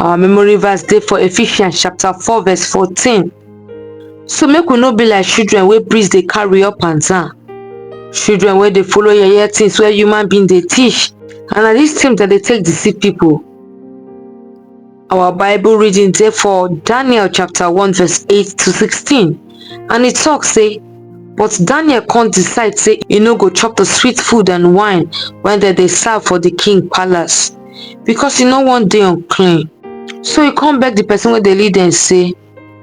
our memory verse dey for ephesians chapter 4 verse 14 so make we no be like children wey priest dey carry up and down children wey dey follow yeye things wey human being dey teach and na dis thing dem dey take deceive people our bible reading dey for daniel chapter 1 verse 8 to 16 And e tok sey, But Daniel con decide sey e no go chop di sweet food and wine wey dem dey serve for di king palace, becos e no wan dey unclean. So e con beg di pesin wey dey lead dem sey,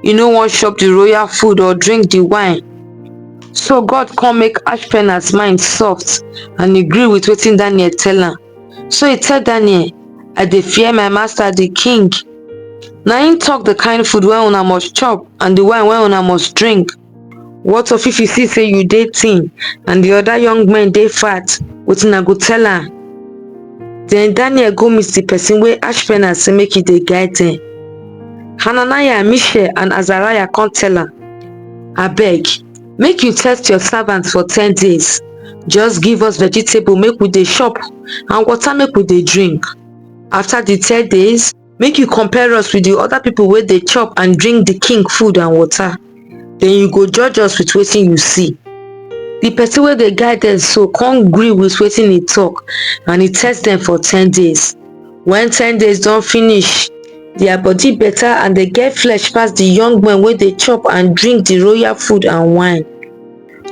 E no wan chop di royal food or drink di wine. So God con make Ashpenaz mind soft and e gree wit wetin Daniel tell am. So e tell Daniel, I dey fear my master di king. na im talk the kind food wey una must chop and the wine wey una must drink what of if you see say you dey thin and the other young men dey fat wetin i go tell am then daniel go meet the person wey ashpenaz say make he dey guide them hananiah mishael and azariah come tell am abeg make you test your servants for ten days just give us vegetable make we dey chop and water make we dey drink after di ten days make you compare us with di other people wey dey chop and drink di king food and water den you go judge us with wetin you see di person wey dey guide dem so come gree with wetin he talk and he test dem for ten days when ten days don finish their body better and dem get flesh pass di young men wey dey chop and drink di royal food and wine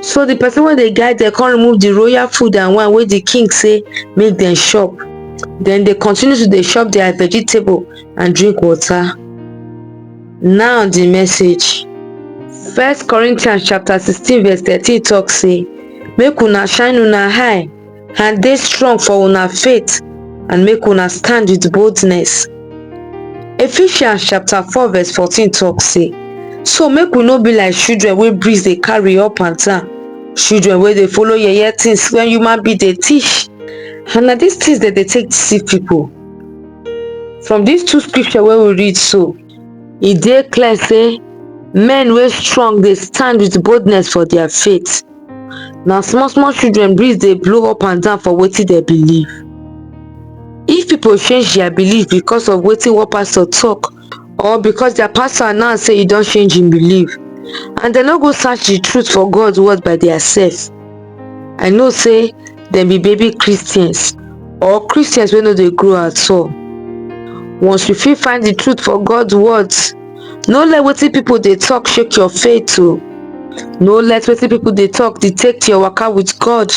So the person wey dey guide dem come remove the royal food and wine wey the king say make dem chop. Then they continue to dey chop their vegetable and drink water. Now the message. First Corinthians chapter sixteen verse thirteen talk say make una shine una eye and dey strong for una faith and make una stand with boldness. Ephesians chapter 4 verse 14 talk say, So make we no be like children wey breeze dey carry up and down, children wey dey follow yeye things when human being dey teach, and na these things dem dey take deceive people. From these two scripture wey we read so, e dey clear say men wey strong dey stand with boldness for their faith. na small small children breeze dey blow up and down for wetin dem believe if people change their belief because of wetin one pastor talk or because their pastor announce say e don change im belief and dem no go search the truth for god word by their self i know say dem be baby christians or christians wey no dey grow at all once we fit find the truth for god words no let wetin people dey talk shake your faith o no let wetin people dey talk detect your waka with god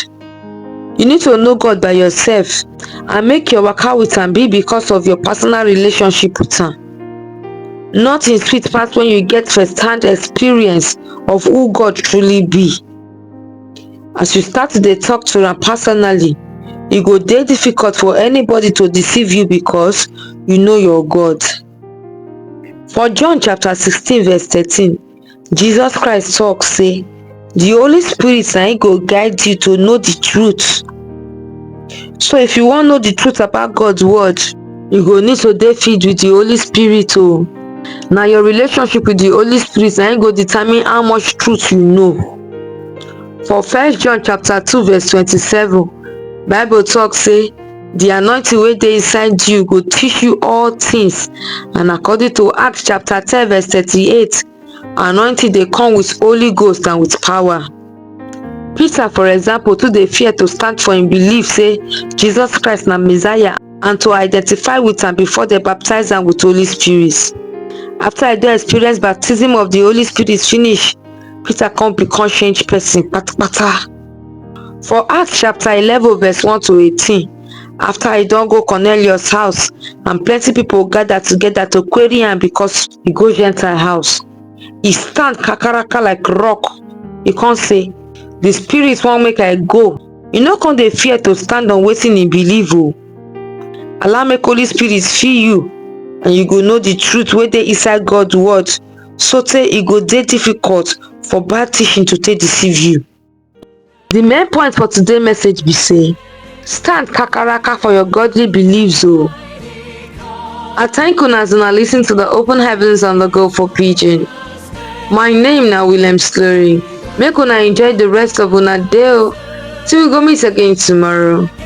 you need to know god by yourself and make your waka with am be because of your personal relationship with am nothing sweet pass when you get first hand experience of who god truly be as you start to dey talk to am personally e go dey difficult for anybody to deceive you because you know your god For John chapter 16 verse 13, Jesus Christ talk say, the Holy Spirit na him go guide you to know the truth. So if you wan know the truth about God's word, you go need to dey filled with the Holy Spirit o. Na your relationship with the Holy Spirit na him go determine how much truth you know. For first John chapter 2 verse 27, Bible talk say, The anointing wey dey inside you go teach you all things. And according to Acts chapter 10 verse 38, anointing dey come with Holy Ghost and with power. Peter, for example, too dey fear to stand for im belief say Jesus Christ na Messiah and to identify with am before dem baptize am with Holy Spirit. After I don experience baptism of the Holy Spirit finish, Peter come become changed person patapata. For Acts chapter 11 verse 1 to 18, after I don't go Cornelius house and plenty people gather together to query am because he go Gentile house. He stand kakaraka like rock. He can't say, the spirit won't make I go. You no come dey fear to stand on waiting in believe o. Allow make Holy Spirit fill you and you go know the truth where they inside God word so tey e go dey difficult for bad teaching to take deceive you. The main point for today's message be say, stand kakaraka for your godly beliefs o. Oh. I thank una as una listen to the open heavens and the go for pidgin. My name na William Slurry. Make una enjoy the rest of una day o. Oh. Till we go meet again tomorrow.